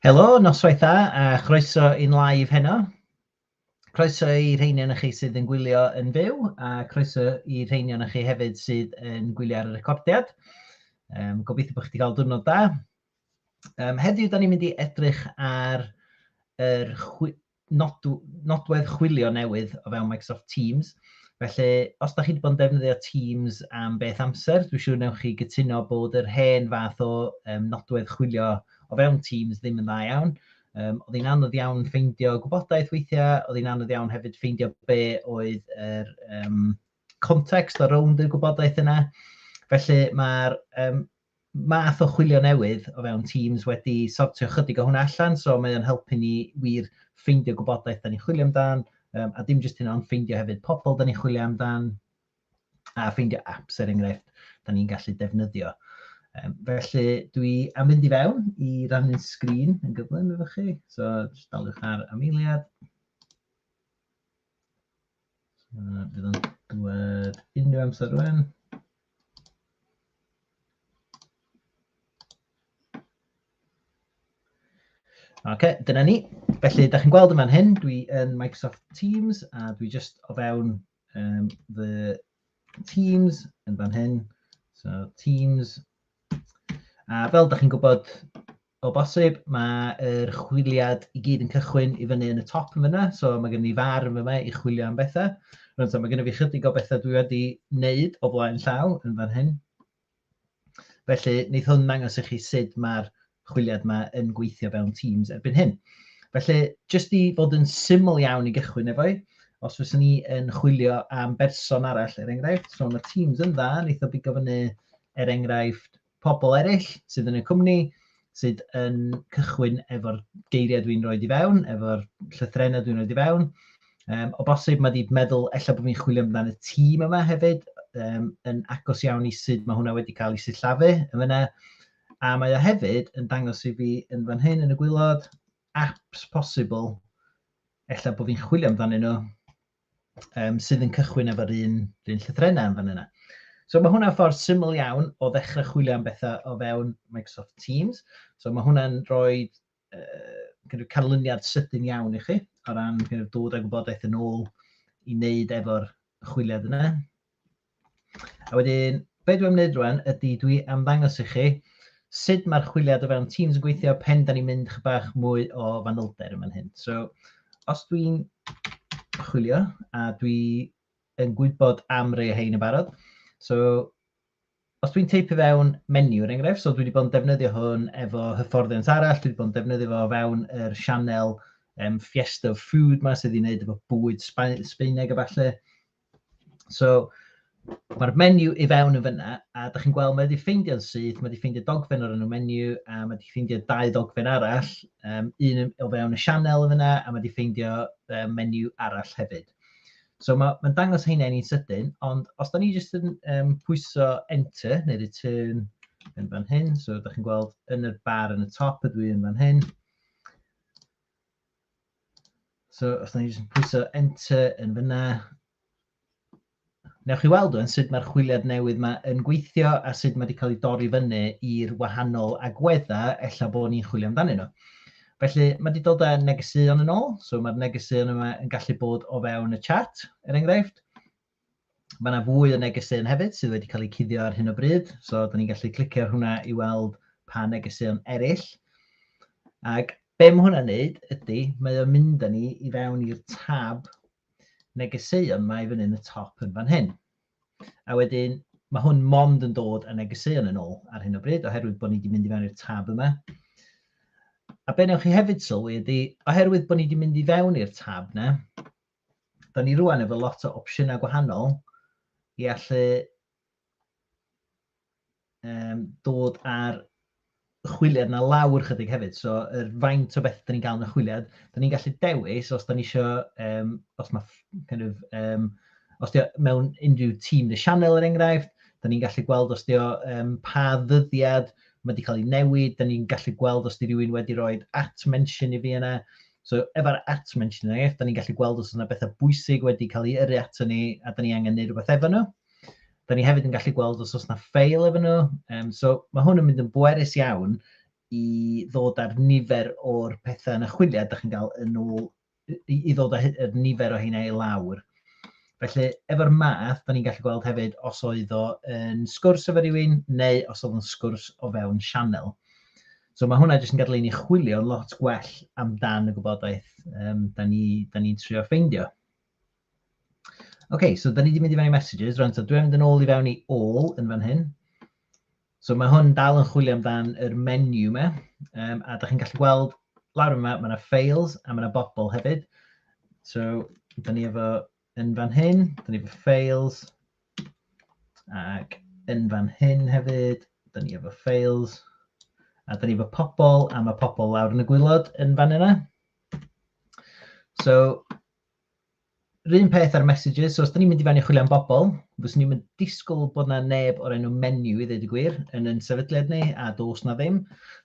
Helo, noswaith dda a chroeso i'n live heno. Croeso i rheini o'n chi sydd yn gwylio yn fyw a croeso i rheini o'n chi hefyd sydd yn gwylio ar y recordiad. Um, gobeithio bod chi wedi cael diwrnod da. Um, heddiw, da ni'n mynd i edrych ar yr chwi... nodwedd chwilio newydd o fewn Microsoft Teams. Felly, os da chi wedi bod yn defnyddio Teams am beth amser, dwi'n siŵr newch chi gytuno bod yr hen fath o um, nodwedd chwilio o fewn Teams ddim yn dda iawn. Um, oedd hi'n anodd iawn ffeindio gwybodaeth weithiau, oedd hi'n anodd iawn hefyd ffeindio be oedd yr um, context o rownd y gwybodaeth yna. Felly mae'r um, math o chwilio newydd o fewn Teams wedi sortio chydig o hwnna allan, so mae o'n helpu ni wir ffeindio gwybodaeth da ni'n chwilio amdan, a dim jyst hynna ond ffeindio hefyd pobl da ni'n chwilio amdan, a ffeindio apps er enghraifft da ni'n gallu defnyddio. Felly dwi am fynd i fewn i rannu'n sgrin yn gyflym efo chi, so jyst daliwch ar am eiliad. Yna bydd o'n dwed unrhyw amser rwan. OK, dyna ni. Felly, da chi'n gweld yma'n hyn, dwi yn Microsoft Teams a dwi just o fewn um, fy Teams yn fan hyn. So, Teams. A fel da chi'n gwybod, O bosib, mae yr chwiliad i gyd yn cychwyn i fyny yn y top yn fyna, so mae gen i far yn fyma i chwilio am bethau. Rwy'n so, mae gen i fi chydig o bethau dwi wedi wneud o flaen llaw yn fan hyn. Felly, wneud hwn ddangos i chi sut mae'r chwiliad yma yn gweithio fewn Teams erbyn hyn. Felly, jyst i fod yn syml iawn i gychwyn efo'i, os fyswn ni yn chwilio am berson arall, er enghraifft, so mae Teams yn dda, wneud o bigo fyny, er enghraifft, pobl eraill sydd yn y cwmni, sydd yn cychwyn efo'r geiriau dwi'n rhoi i fewn, efo'r llythrenau dwi'n rhoi i fewn. Um, o bosib, mae wedi meddwl, efallai bod fi'n chwilio amdano y tîm yma hefyd, um, yn agos iawn i sut mae hwnna wedi cael ei sillafu yn fyna. A mae o hefyd yn dangos i fi yn fan hyn yn y gwylod apps posibl, efallai bod fi'n chwilio amdano nhw, um, sydd yn cychwyn efo'r un, un llythrenau yn fan yna. So mae hwnna'n ffordd syml iawn o ddechrau chwilio am bethau o fewn Microsoft Teams. So mae hwnna'n rhoi uh, canlyniad sydyn iawn i chi o ran dod â gwybodaeth yn ôl i wneud efo'r chwiliad yna. A wedyn, be dwi am wneud rwan ydy dwi am ddangos i chi sut mae'r chwiliad o fewn Teams yn gweithio pen da ni'n mynd chydig bach mwy o fanylder yn fan hyn. So, os dwi'n chwilio a dwi yn gwybod am rei o hein yn barod, so os dwi'n teipio fewn menu er enghraifft, so dwi wedi bod yn defnyddio hwn efo hyfforddiant arall, dwi wedi bod yn defnyddio fo fewn yr sianel um, Fiesta of Food ma sydd wedi gwneud efo bwyd Sbaeneg a falle, So, mae'r menu i fewn yn fyna, a da chi'n gweld mae wedi ffeindio'n syth, mae wedi ffeindio dogfen o'r enw menu, a mae wedi ffeindio dau ddogfen arall, um, un o fewn y sianel yn fyna, a mae wedi ffeindio um, menu arall hefyd. So mae'n ma dangos heina ni'n sydyn, ond os da ni jyst yn um, pwyso enter neu return yn fan hyn, so da chi'n gweld yn y bar yn y top ydw i yn fan hyn, So, os ni jyst pwyso enter yn fyna, newch chi weld o'n sut mae'r chwiliad newydd yma yn gweithio a sut mae wedi cael ei dorri fyny i'r wahanol agweddau ella bod ni'n chwilio amdanyn nhw. Felly, mae wedi dod â negeseuon yn ôl, so mae'r negeseuon yma yn gallu bod o fewn y chat, er enghraifft. Mae yna fwy o negeseuon hefyd sydd wedi cael eu cuddio ar hyn o bryd, so da ni'n gallu clicio ar hwnna i weld pa negeseuon eraill. Ac be mae hwnna'n neud ydy, mae o'n mynd â ni i fewn i'r tab negeseuon mae fyny yn y top yn fan hyn. A wedyn, mae hwn mond yn dod â negeseuon yn ôl ar hyn o bryd, oherwydd bod ni wedi mynd i fewn i'r tab yma. A be newch chi hefyd sylwi ydy, oherwydd bod ni wedi mynd i fewn i'r tab yna, dan ni rwan efo lot o opsiynau gwahanol i allu um, dod ar chwiliad na lawr chydig hefyd. So, yr faint o beth da ni'n cael yn y chwiliad, da ni'n gallu dewis os da ni eisiau, um, os mae, kind of, um, os di mewn unrhyw tîm neu sianel er enghraifft, da ni'n gallu gweld os di um, pa ddyddiad mae wedi cael ei newid, da ni'n gallu gweld os di rhywun wedi rhoi at mention i fi yna, So efo'r at mentioning, er enghraifft, da ni'n gallu gweld os yna bethau bwysig wedi cael ei yrru ato ni a da ni angen gwneud rhywbeth efo nhw. Da ni hefyd yn gallu gweld os oes yna ffeil efo nhw. Um, so mae hwn yn mynd yn bwerus iawn i ddod ar nifer o'r pethau yn y chwiliad da chi'n cael yn ôl, i, i ddod â'r nifer o hynna i lawr. Felly, efo'r math, da ni'n gallu gweld hefyd os oedd o yn sgwrs efo rhywun neu os oedd o'n sgwrs o fewn sianel. So mae hwnna jyst yn gadael i ni chwilio lot gwell amdan y gwybodaeth um, da ni'n ni, ni trio ffeindio. OK, so da ni wedi mynd i fewn i messages, rhan, so dwi'n mynd yn ôl i fewn i all yn fan hyn. So mae hwn dal yn chwilio amdan yr menu yma, um, a da chi'n gallu gweld lawr yma, mae yna files a mae yna bobl hefyd. So, da ni efo yn fan hyn, dyn ni efo files, ac yn fan hyn hefyd, dyn ni efo files, a dyn ni efo pobl, a mae pobl lawr yn y gwylod yn fan yna. So, rhywun peth ar messages, so os dyn ni'n mynd i fan i chwilio am bobl, fyswn ni'n mynd disgwyl bod na neb o'r enw menu i ddweud y gwir yn yn sefydliad ni, a dos na ddim.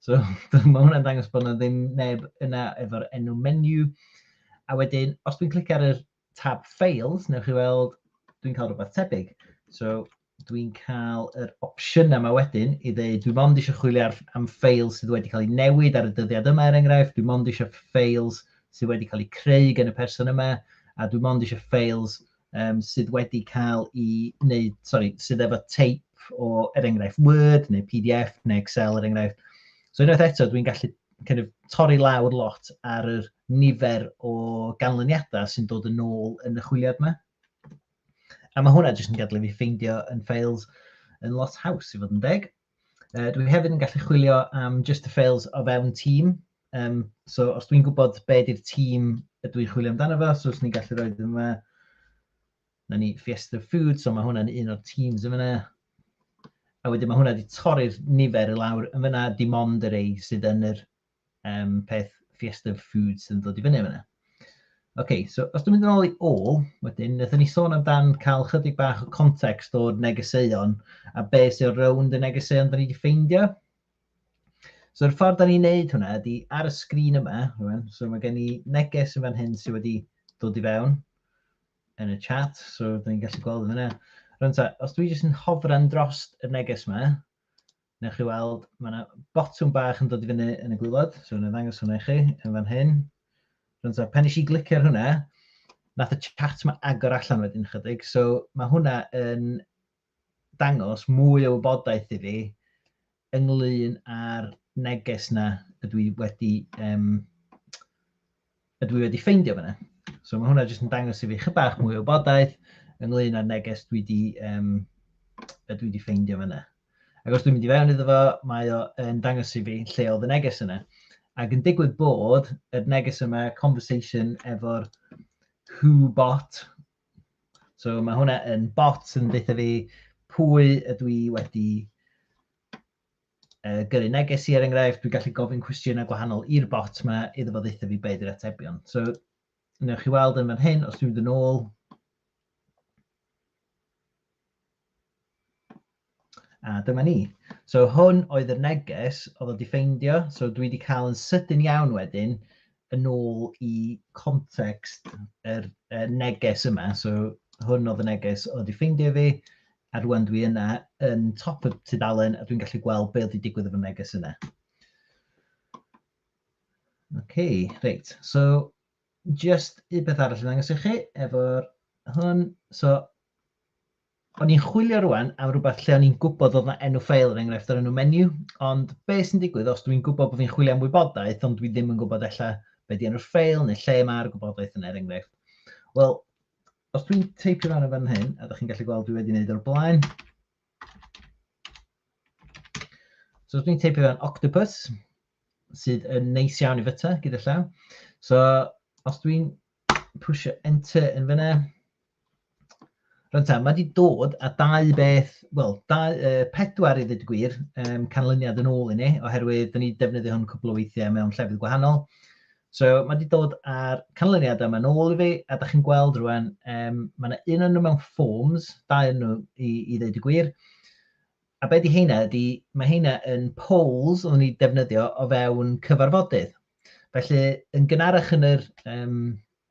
So, mae hwnna'n dangos bod na ddim neb yna efo'r enw menu. A wedyn, os dwi'n clicio ar yr tab Files, newch chi weld dwi'n cael rhywbeth tebyg. So, dwi'n cael yr opsiynau yma wedyn i ddeud dwi'n mond eisiau chwilio ar, am ffeil sydd wedi cael ei newid ar y dyddiad yma er enghraifft, dwi'n mond eisiau ffeils sydd wedi cael eu creu gan y person yma, a dwi'n mond eisiau ffeils um, sydd wedi cael i wneud, sorry, sydd efo teip o, er enghraifft, Word neu PDF neu Excel, er enghraifft. So unwaith eto, dwi'n gallu kind of, torri lawr lot ar yr nifer o ganlyniadau sy'n dod yn ôl yn y chwiliad yma. A mae hwnna jyst yn gadw fi ffeindio yn ffeils yn lot haws i fod yn deg. Uh, dwi hefyd yn gallu chwilio am just the fails o fewn tîm. Um, so os dwi'n gwybod be di'r tîm y dwi'n chwilio amdano fo, so os ni'n gallu rhoi ddim yma, na ni Fiesta Food, so mae hwnna'n un o'r teams yn fyna. A wedyn mae hwnna wedi torri'r nifer i lawr yn fyna, dim ond yr ei sydd yn yr um, peth Fiesta Foods yn dod i fyny yna. OK, so os dwi'n mynd yn ôl i ôl, wedyn, wnaethon ni sôn amdan cael chydig bach o context o'r negeseuon a be sy'n rownd y negeseuon da ni wedi ffeindio. So, yr ffordd da ni'n neud hwnna ydy ar y sgrin yma, rwan, so mae gen i neges yn fan hyn sydd wedi dod i fewn yn y chat, so da ni'n gallu gweld yn yna. Rwan ta, os dwi jyst yn hofran dros y neges yma, Newch chi weld, mae yna botwm bach yn dod i fyny yn y gwylod, so yna ddangos hwnna i chi yn fan hyn. Rwy'n so, pen eisiau glicio ar hwnna, nath y chat mae agor allan wedyn chydig, so mae hwnna yn dangos mwy o wybodaeth i fi ynglyn â'r neges na ydw i wedi um, ydw i wedi ffeindio fyna. So mae hwnna jyst yn dangos i fi chydig bach mwy o wybodaeth ynglyn â'r neges dwi wedi, um, dwi wedi ffeindio fyna. Ac os dwi'n mynd i fewn iddo fo, mae o yn dangos i fi lle oedd y neges yna. Ac yn digwydd bod y neges yma conversation efo'r who bot. So mae hwnna yn bot yn dweud fi pwy ydw i wedi uh, gyrru neges i er enghraifft, dwi'n gallu gofyn cwestiynau gwahanol i'r bot yma iddo fo ddeitha fi beth i'r atebion. So, newch chi weld yn fan hyn, os dwi'n mynd yn ôl, a dyma ni. So hwn oedd y neges oedd wedi ffeindio, so dwi wedi cael yn sydyn iawn wedyn yn ôl i context yr er, er neges yma. So hwn oedd y neges oedd wedi ffeindio fi, A rŵan dwi yna yn top y tudalen a dwi'n gallu gweld be oedd wedi digwydd efo neges yna. OK, reit. So, just un peth arall yn angos i chi efo'r hwn. So, o'n i'n chwilio rwan am rhywbeth lle o'n i'n gwybod oedd yna enw ffeil yn er enghraifft o'r enw menu, ond be sy'n digwydd os dwi'n gwybod bod fi'n chwilio am wybodaeth ond dwi ddim yn gwybod ella be di enw'r ffeil neu lle mae'r gwybodaeth yn er enghraifft. Wel, Os dwi'n teipio fan yn fan hyn, a ydych chi'n gallu gweld dwi wedi gwneud o'r blaen. So os dwi'n teipio fan octopus, sydd yn neis iawn i fyta gyda llaw. So os dwi'n pwysio enter yn fyna, Rwy'n ta, mae wedi dod a dau beth, wel, uh, pedwar i ddweud gwir, um, canlyniad yn ôl i ni, oherwydd dyn ni defnyddio hwn cwbl o weithiau mewn llefydd gwahanol. So mae wedi dod â'r canlyniadau yma nôl i fi, a da chi'n gweld rwan, um, mae yna un o'n nhw mewn forms, dau o'n nhw i, i ddeud y gwir. A be di heina ydy, mae heina yn polls o'n i defnyddio o fewn cyfarfodydd. Felly, yn gynharach yn, yr, um,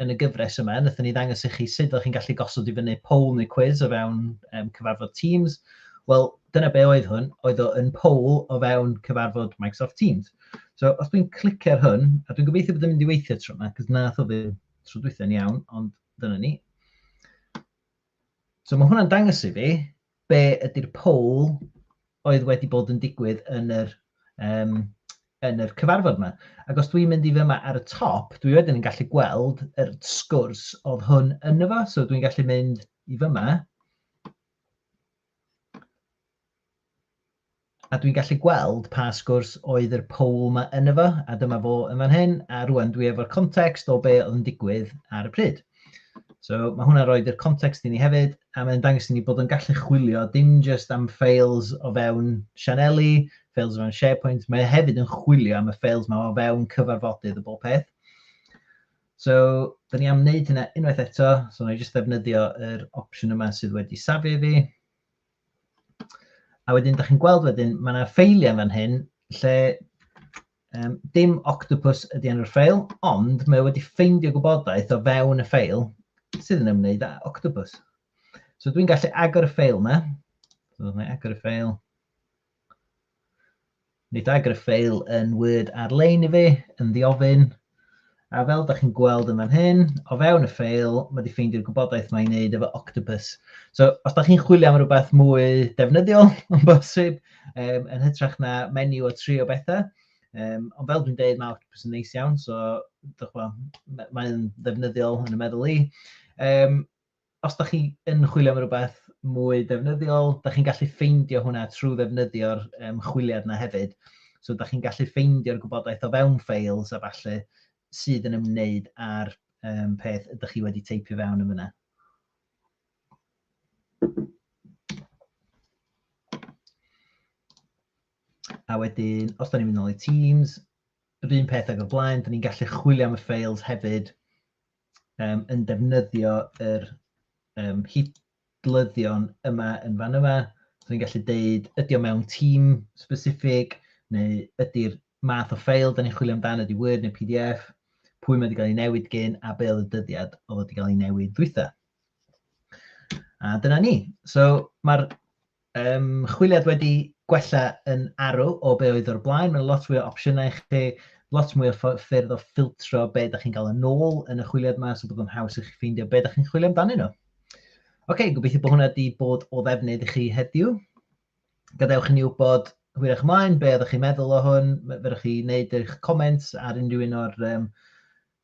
yn y gyfres yma, wnaethon ni ddangos i chi sut ydych chi'n gallu gosod i fyny poll neu quiz o fewn um, cyfarfod Teams. Wel, dyna be oedd hwn, oedd o yn poll o fewn cyfarfod Microsoft Teams. So, os dwi'n clicio ar hwn, a dwi'n gobeithio bod yn mynd i weithio tro yma, cos na o ddim tro dwytho'n iawn, ond dyna ni. So mae hwnna'n dangos i fi be ydy'r poll oedd wedi bod yn digwydd yn yr, um, yn yr cyfarfod yma. Ac os dwi'n mynd i fyma ar y top, dwi wedyn yn gallu gweld yr sgwrs oedd hwn yn efo, so dwi'n gallu mynd i fyma, A dwi'n gallu gweld pa sgwrs oedd yr poll 'ma ynddo fo, a dyma fo yn fan hyn, a rŵan dwi efo'r context o be oedd yn digwydd ar y pryd. So mae hwnna'n rhoi yr context i ni hefyd, a mae'n dangos i ni bod o'n gallu chwilio dim jyst am ffeils o fewn sianeli, ffeils o fewn SharePoint, mae e hefyd yn chwilio am y ffeils 'ma o fewn cyfarfodydd a bob peth. So, dyn ni am wneud hynna unwaith eto, so wna i jyst ddefnyddio yr opsiwn yma sydd wedi safi fi. A wedyn, da chi'n gweld wedyn, mae yna ffeiliau fan hyn lle um, dim octopus ydy enw'r ffeil, ond mae wedi ffeindio gwybodaeth o fewn y ffeil sydd yn ymwneud â octopus. So dwi'n gallu agor y ffeil yma. So, mae agor y ffeil. Mi dagr y ffeil yn Word ar-lein i fi, yn ddiofyn, a fel da chi'n gweld yn fan hyn, o fewn y ffeil, mae wedi ffeindio'r gwybodaeth mae'n wneud efo Octopus. So, os da chi'n chwilio am rhywbeth mwy defnyddiol, yn bosib, um, yn hytrach na menu o tri o bethau, um, ond fel dwi'n deud, mae Octopus yn neis iawn, so, dwi'n chwa, mae'n ddefnyddiol yn y meddwl i. Um, Os da chi yn chwilio am rhywbeth mwy defnyddiol, da chi'n gallu ffeindio hwnna trwy ddefnyddio'r um, chwiliad yna hefyd. So da chi'n gallu ffeindio'r gwybodaeth o fewn ffeils a falle sydd yn ymwneud â'r um, peth ydych chi wedi teipio fewn yn fyna. A wedyn, os da ni'n mynd nôl i Teams, yr un peth ag o'r blaen, da ni'n gallu chwilio am y ffeils hefyd um, yn defnyddio yr um, hidlyddion yma yn fan yma. So ni'n gallu deud, ydy o mewn tîm specific, neu ydy'r math o ffeil da ni'n chwilio amdano, ydy Word neu PDF, pwy mae wedi cael ei newid gyn a be oedd y dyddiad oedd wedi cael ei newid ddwytha. A dyna ni. So mae'r Ymchwiliad wedi gwella yn arw o be oedd o'r blaen, mae 'na lot fwy o opsiynau i chi, lot mwy o ffyrdd o ffiltro be da chi'n gael yn ôl yn y chwiliad yma, so bod o'n haws i chi ffeindio be da chi'n chwilio amdanyn nhw. Ok, gobeithio bod hwnna wedi bod o ddefnydd i chi heddiw. Gadewch i ni wybod hwyrach ymlaen be oeddech chi'n meddwl o hwn, fyrwch chi wneud eich comments ar unrhyw un o'r um,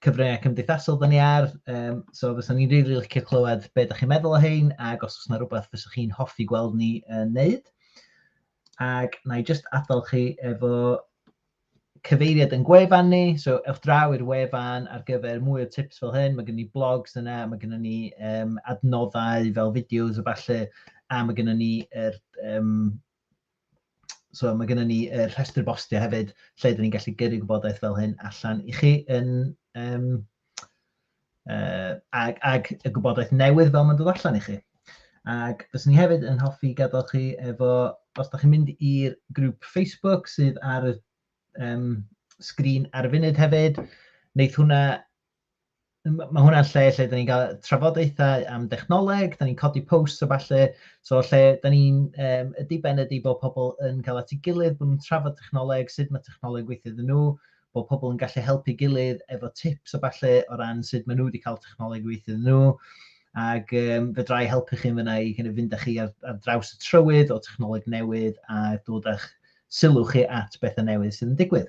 cyfryngau cymdeithasol da ni ar, um, so fysa ni'n rili really licio clywed beth ydych chi'n meddwl o hyn, ac os oes yna rhywbeth fysa chi'n hoffi gweld ni yn uh, neud. Ac na i just adael chi efo cyfeiriad yn gwefan ni, so ewch draw i'r wefan ar gyfer mwy o tips fel hyn, mae gen ni blogs yna, mae gen ni um, adnoddau fel fideos o falle, a mae gen ni er, um, So mae gennym ni y rhestr bostio hefyd lle dyn ni'n gallu gyrru gwybodaeth fel hyn allan i chi yn um, uh, ag, ag y gwybodaeth newydd fel mae'n dod allan i chi. Ac fes ni hefyd yn hoffi gadael chi efo, os da chi'n mynd i'r grŵp Facebook sydd ar y um, sgrin ar y funud hefyd, wneud hwnna mae hwnna'n lle lle da ni'n cael trafodaethau am dechnoleg, da ni'n codi posts o falle, so lle da ni'n um, y diben ydy bod pobl yn cael at ei gilydd, bod nhw'n trafod technoleg, sut mae technoleg weithio iddyn nhw, bod pobl yn gallu helpu gilydd efo tips o falle o ran sut maen nhw wedi cael technoleg weithio iddyn nhw, ac um, fedrai helpu chi'n fyna i kind of, fynd â chi ar, ar draws y trywydd o technoleg newydd a dod â'ch sylw chi at bethau newydd sydd yn digwydd.